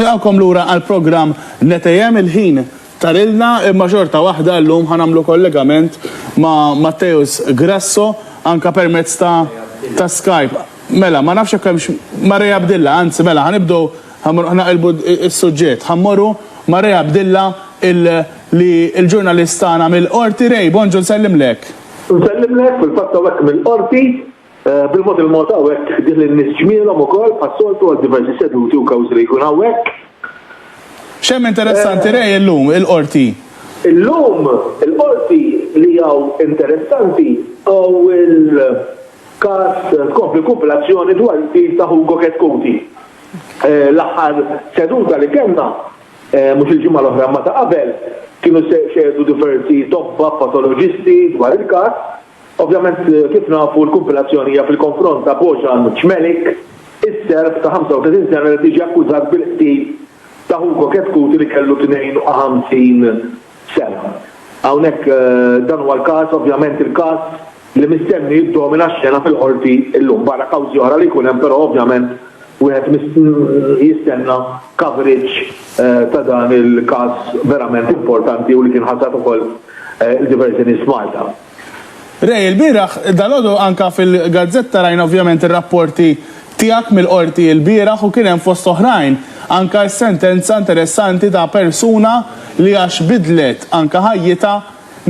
Nilqgħukom lura għall-programm Netejem, il-ħin tarilna imma xorta waħda llum ħa nagħmlu kollegament ma' Matteus Grasso anke permezz ta' ta' Skype. Mela, ma nafx jekk hemmx Marea Abdilla, anzi mela ħa nibdew ħa mmorru ħa naqilbu s-suġġett, ħa mmorru Marea Abdilla il li l-ġurnalist tagħna mill-Qorti. Ray, bonġu nsellimlek. Nsellimlek, fil-fatt hawnhekk mill-Qorti. Bil-mod il-mod hawn hekk ħdih lin-nies ġmielhom ukoll bħas-soltu għal diversi seduti u kawżi li jkun hawn hekk. X'hemm interessanti Ray illum il-Qorti? Illum il-Qorti li hawn interessanti hawn il-każ tkompli kumpilazzjoni dwar il-qtil ta' Hugo Chetcuti. L-aħħar seduta li kellna, mhux il-ġimgħa l-oħra imma ta' qabel, kienu xehdu diversi tobba patoloġisti dwar il-każ, Ovvjament, kif nafu, l-kumpilazzjoni hija fil-konfront ta' Bojan Cmelik, is-Serb ta' 35 sena li qed jiġi akkużat bil-qtil ta' Hugo Chetcuti li kellu 52 sena. Hawnhekk dan huwa l-każ, ovvjament il-każ li mistenni jiddomina x-xena fil-Qorti llum, barra kawżi oħra li jkun hemm però ovvjament wieħed jistenna coverage ta' dan il-każ verament importanti u li kien ħasad ukoll Diversion is Malta. Ray, ilbieraħ, dalgħodu anke fil-gazzetta rajna ovvjament ir-rapporti tiegħek mill-Qorti ilbieraħ u kien hemm fost oħrajn anke s-sentenza interessanti ta' persuna li għax bidlet anke ħajjitha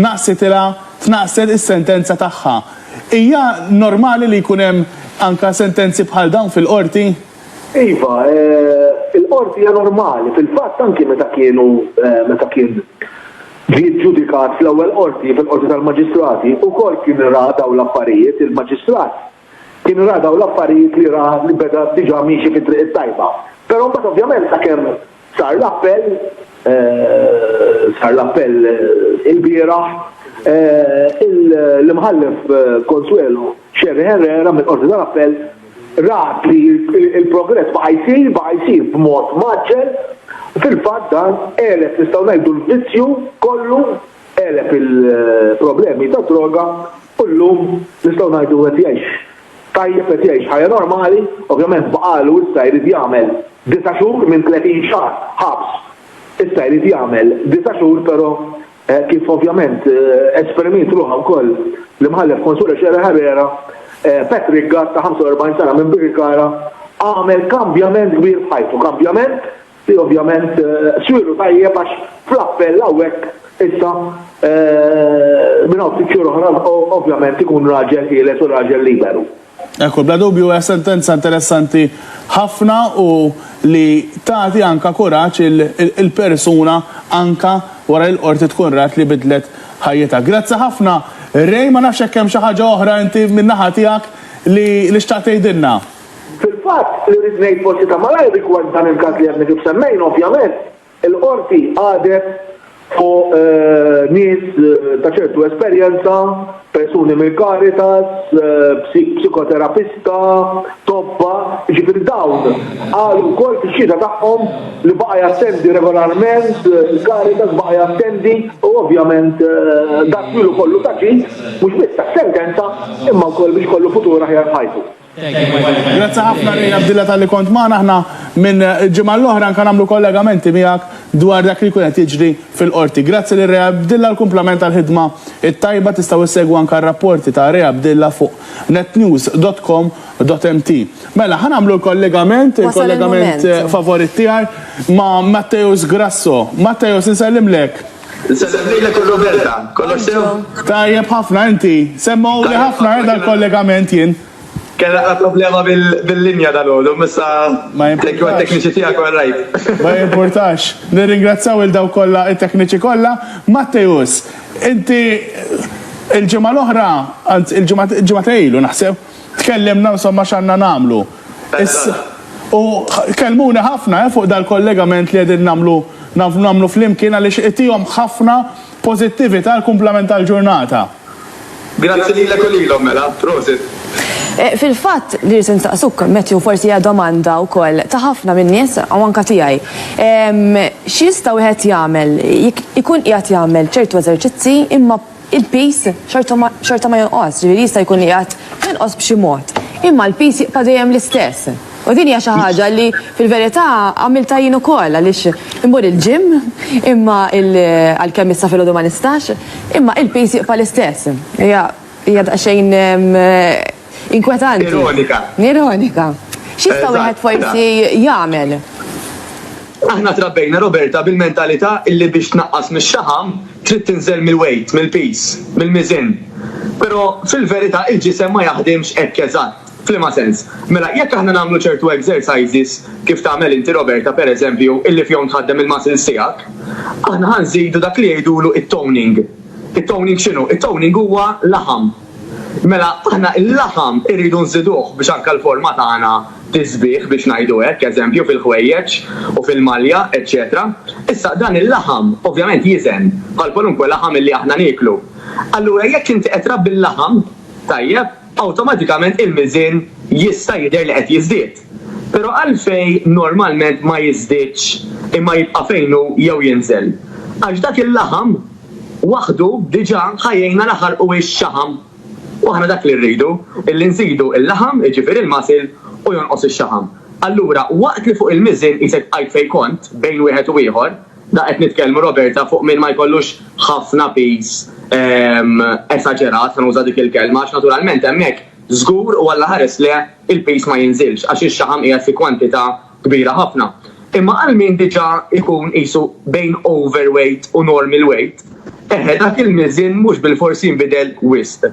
naqsitilha tnaqqset is-sentenza tagħha. Hija normali li jkun hemm anke sentenzi bħal dawn fil-Qorti? Iva, il-Qorti hija normali. Fil-fatt anke meta kienu meta kien Ġie ġġudikat fl-ewwel qorti, fil-Qorti tal-Maġistrati, ukoll kien ra dawn l-affarijiet, il-Maġistrat kien ra dawn l-affarijiet li ra li beda diġà miexi fit-triq it-tajba. Però mbagħad ovvjament sakemm sar l-appell, sar l-appell ilbieraħ, l-Imħallef Consuelo Scerri Herrera mill-Qorti tal-Appell, rat li l-progress baqa' jsir, baqa' jsir b'mod mgħaġġel, u fil-fatt dan għeleb, nistgħu ngħidu, l-vizzju kollu, għeleb il-problemi tad-droga u llum nistgħu ngħidu qed jgħix tajjeb, qed jgħix ħajja normali, ovvjament baqgħalu issa jrid jagħmel disa' xhur minn 30 xahar ħabs, issa jrid jagħmel disa' xhur però Hekk kif ovvjament esperimiet ruħha wkoll l-Imħallef Consuelo Scherer Herrera, Patrick Gatt ta' 45 sena minn Birkirkara għamel kambjament kbir f'ħajtu, kambjament li ovvjament swielu tajjeb għax fl-appell hawnhekk issa minn hawn ftit xhur oħra ovvjament ikun raġel ħieles u raġel liberu. Ekku, bla dubju hija sentenza interessanti ħafna u li tagħti anka kuraġġ il-persuna anka wara li l-Qorti tkun rat li bidlet ħajjitha. Grazzi ħafna Ray, ma nafx jekk hemm xi ħaġa oħra inti min-naħa tiegħek li li xtaqt tgħidilna. Fil-fatt, li rrid ngħid forsi ta' malajr rigward dan il-każ li għadni kif semmejna ovvjament, Il-Qorti qagħdet fuq nies ta' ċertu esperjenza, persuni mill-Caritas, psikoterapista, tobba, jiġifieri dawn qalu wkoll fix-xhieda tagħhom li baqa' jattendi regolarment il-Caritas, baqa' jattendi u ovvjament dan ilu kollu ta' ġid mhux biss għas-sentenza imma wkoll biex ikollu futur aħjar f'ħajtu. Grazzi ħafna Ray Abdilla talli kont magħna. Aħna minn ġimgħa l-oħra anke nagħmlu kollegamenti miegħek dwar dak li jkun qed jiġri fil-Qorti. Grazzi lil Ray Abdilla u kumplament għall-ħidma t-tajba. Tistgħu issegwu anke r-rapporti ta' Ray Abdilla fuq netnews.com.mt. Mela, ħa nagħmlu l-kollegament, il-kollegament favorit tiegħi ma' Matteus Grasso. Matteus, insellimlek. Insellem lilek u Roberta. Kollox sew? Tajjeb ħafna, inti? Semmewli ħafna eh, dal-kollegament jien. Kien naqra problema bil-linja dal-għodu, missa tekju għat-tekniċi tijak u rajt. Ma jimportax. Nirringrazzaw il-daw kolla, il-tekniċi kolla. Mattejus, inti il-ġimma l-oħra, il-ġimma tejlu naħseb, tkellimna insomma x'għandna nagħmlu. U kellmuni ħafna eh fuq dal-kollegament li qegħdin nagħmlu nagħmlu flimkien għaliex itihom ħafna pożittività għall-kumplament tal-ġurnata. Grazzi lilek u lilhom mela. Prosit. Fil-fatt, li rrid insaqsuk, Matthew, forsi hija domanda wkoll ta' ħafna min-nies u anke tiegħi. X'jista' wieħed jagħmel jekk ikun qiegħed jagħmel ċertu eżerċizzi imma il-piż xorta ma jonqosx, ġifieri jista' jkun li qiegħed jonqos b'xi mod, imma l-piż jibqa' dejjem l-istess. U din hija xi ħaġa li fil-verità għamiltha jien ukoll għaliex immur il-gym imma għalkemm issa filgħodu ma nistax, imma il-piż jibqa' l-istess. Hija hija daqsxejn Inkwetanti. Ironika. Ironika. X'jista' wieħed forsi jagħmel? Aħna trabbejna Roberta bil-mentalità illi biex tnaqqas mix-xaħam trid tinżel mill-weight, mill-piż, mill-miżien. Però fil-verità il-ġisem ma jaħdimx hekk eżatt. F'liema sens? Mela jekk aħna nagħmlu ċertu exercises, kif tagħmel inti Roberta pereżempju, illi fihom tħaddem il-muscles tiegħek, aħna ħa nżidu dak li jgħidulu t-toning. It-toning x'inhu? It-toning huwa laħam. Mela aħna il-laħam irridu nżiduh biex anke l-forma tagħna tiżbieh biex ngħidu hekk, eżempju fil-ħwejjeġ u fil-malja, eċċetera Issa dan il-laħam ovvjament jiżen bħal kwalunkwe laħam illi aħna nieklu. Allura jekk inti qed trabbi l-laħam tajjeb, awtomatikament il-miżien jista' jidher li qed jiżdied. Però għalfejn normalment ma jiżdiedx imma jibqa' fejn hu jew jinżel? Għax dak il-laħam waħdu diġà ħa jgħinna naħarqu x-xaħam. U aħna dak li rridu, illi nżidu l-laħam, jiġifieri l-muscle, u jonqos ix-xaħam. Allura, waqt li fuq il-miżien qisek bqajt fejn kont, bejn wieħed u ieħor, da qed nitkellmu, Roberta, fuq min ma jkollux ħafna piż esaġerat, ħa nuża dik il-kelma, għax naturalment hemmhekk żgur u Alla ħares le, il-piż ma jinżilx għax ix-xaħam qiegħed fi kwantità kbira ħafna. Imma għal min diġà jkun qisu bejn overweight u normal weight, eħe dak il-miżien mhux bilfors jinbidel wisq.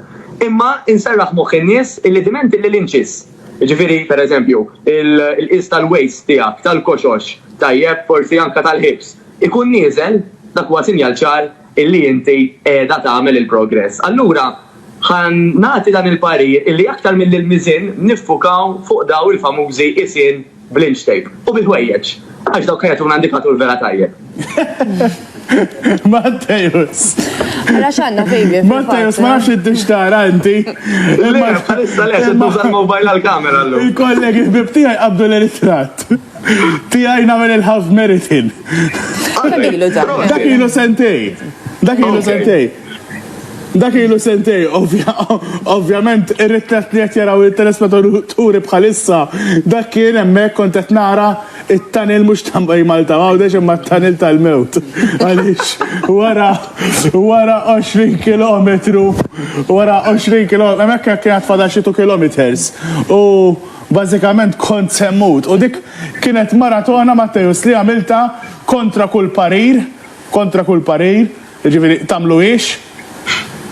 Imma inserraħ moħħ in-nies illi diment illi l-inċis, jiġifieri pereżempju l-qies tal-waist tiegħek, tal-koxox, tajjeb, forsi anke tal-hips, ikun nieżel, dak huwa sinjal ċar illi inti qiegħda tagħmel il-progress. Allura ħa nagħti dan il-parir illi aktar milli l-miżien niffukaw fuq daw il-famużi qisien bl-inch tape u bil-ħwejjeġ għax dawk jagħtuna indikatur vera tajjeb. Mattejus. Għala xanna fejbi. Mattejus, ma nafx id tara inti. Le, bħalissa le, se tuża l-mobile għal-kamera l-lum. Il-kollegi bibtijaj qabdu l-eritrat. Tijaj namel il-half meritin. Dak ilu sentej. Dak ilu sentej. Dak ilu sentej, ovvjament, ir-ritrat li qed jaraw il-telespettaturi bħalissa, dak kien hemmhekk kont qed nara it-tanil mhux ta' Malta Għawdex imma t-tanil tal-mewt. Għaliex wara wara 20 kilometru, wara 20 kilometru, hemmhekk kien qed fadal xi kilometers. U Bażikament kont se mmut u dik kienet maratona Matteus li għamiltha kontra kull parir, kontra kull parir, jiġifieri tagħmluhiex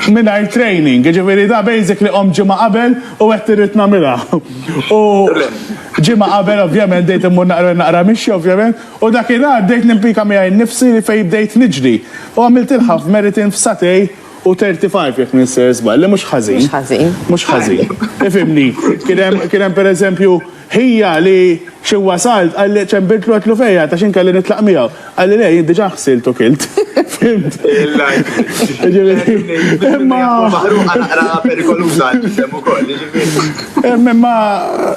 mingħajr training, jiġifieri da basically qomt ġimgħa qabel u għedt irrid nagħmilha. U ġimgħa qabel ovvjament bdejt immur naqra naqra mixja ovvjament u dakinhar bdejt nimpika miegħi nnifsi li fejn bdejt niġri u għamiltilha f'meritin f'sagħtej U 35 jekk ninsir żball, li mhux ħażin. Mhux ħażin. Mhux ħażin. Ifimni, kien hemm pereżempju ħija li xi wasalt qalli ċembirtlu għatlu fejja ta' xi nkelli nitlaq miegħu. Qalli le jien diġà ħsilt u kilt. Fimt. Imma maħruqa naqra perikoluża ġisem ukoll, Imma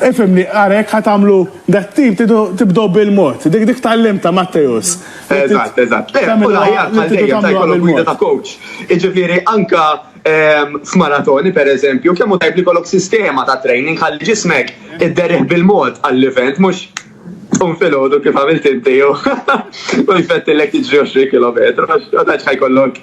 ifimni għarek ħatamlu dat-tip tibdew bil-mod. Dik dik tgħallimta Mattejus. Eżatt, eżatt. U l-aħjar bħal dejjem ta' jkollok gwida ta' coach. Jiġifieri anke ehm, f'maratoni pereżempju, kemm hu tajb li jkollok sistema ta' training ħalli ġismek idderrih bil-mod għall-event mhux tqum filgħodu kif għamilt inti jew u jfettilek tiġri 20 kilometru għax ma tantx ħajkollok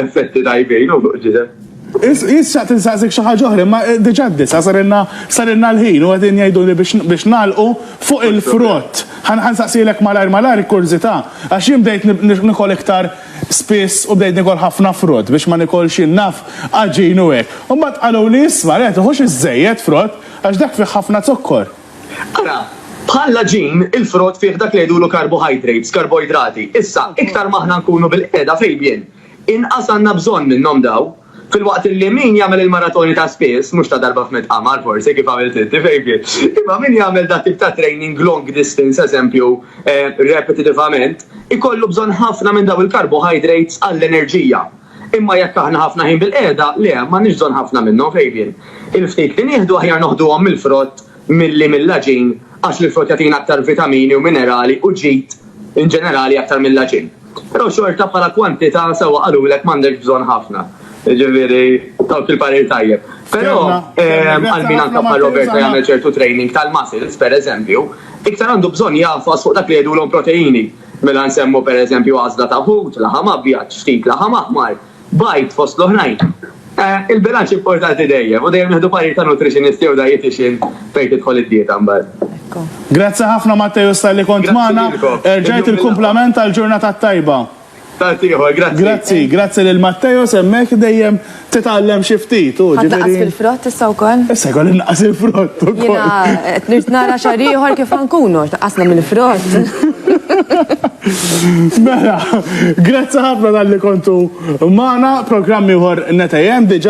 effetti tajbin u fuq ġisem. Jis xaqt insaqsik xi ħaġa oħra, ma diġà d-disa sarilna sarilna l-ħin u qegħdin jgħiduli biex nagħlqu fuq il-frott. Ħansaqsielek malajr malajr kurżità għax jien bdejt nikol iktar spiss u bdejt nikol ħafna frott biex ma nikolx jien naf għaġin u hekk. U mbagħad qaluli isma' le tiħux iżżejjed frott għax dak fih ħafna zokkor. Ara, bħall-għaġin il-frott fih dak li jgħidulu karbohajdrates, karboidrati. Issa, iktar ma aħna nkunu bil-qiegħda fil-bjien, Inqas għandna bżonn minnhom dawn. Filwaqt illi min jagħmel il-maratoni ta' spiss, mhux ta' darba f'mitt qamar forsi kif għamilt inti Fejfi, imma min jagħmel dat-tip ta' training long distance eżempju repetitivament, ikollu bżonn ħafna minn dawn il-carbohydrates għall-enerġija. Imma jekk aħna ħafna ħin bilqiegħda, le, m'għandniex bżonn ħafna minnhom Fejfin. Il-ftit li nieħdu aħjar noħduhom mill-frott milli mill-għaġin għax l-frott jagħtina aktar vitamini u minerali u ġid inġenerali aktar mill-għaġin. Però xorta bħala kwantità sewwa qalulek m'għandekx bżonn ħafna. Jiġifieri dawk il-parir tajjeb. Però għal min anke bħal Roberta jagħmel ċertu training tal-muscles, pereżempju, iktar għandu bżonn jagħfas fuq dak li jgħidulhom proteini. Mela nsemmu pereżempju għażla ta' ħut, laħam abjad, ftit laħam aħmar, Bajd, fost l-oħrajn. Il-bilanċ importanti dejjem, u dejjem nieħdu parir ta' nutritionist jew dietician fejn tidħol id-dieta mbagħad. Grazzi ħafna Matteus talli kont magħna. Grazzi lilkom. Erġajt il-kumplament tal-ġurnata t-tajba. Tant ieħor, grazzi. Grazzi, grazzi lil Matteus hemmhekk dejjem titgħallem xi ftit hu, ġifieri. Ħa tnaqqas fil-frott issa wkoll? Issa jkoll innaqqas il-frott ukoll. Jiena qed nirt nara xahar ieħor kif ħa nkunu, tnaqqasna mill-frott. Mela. Grazzi ħafna talli kontu magħna. Programm ieħor 9 AM diġà.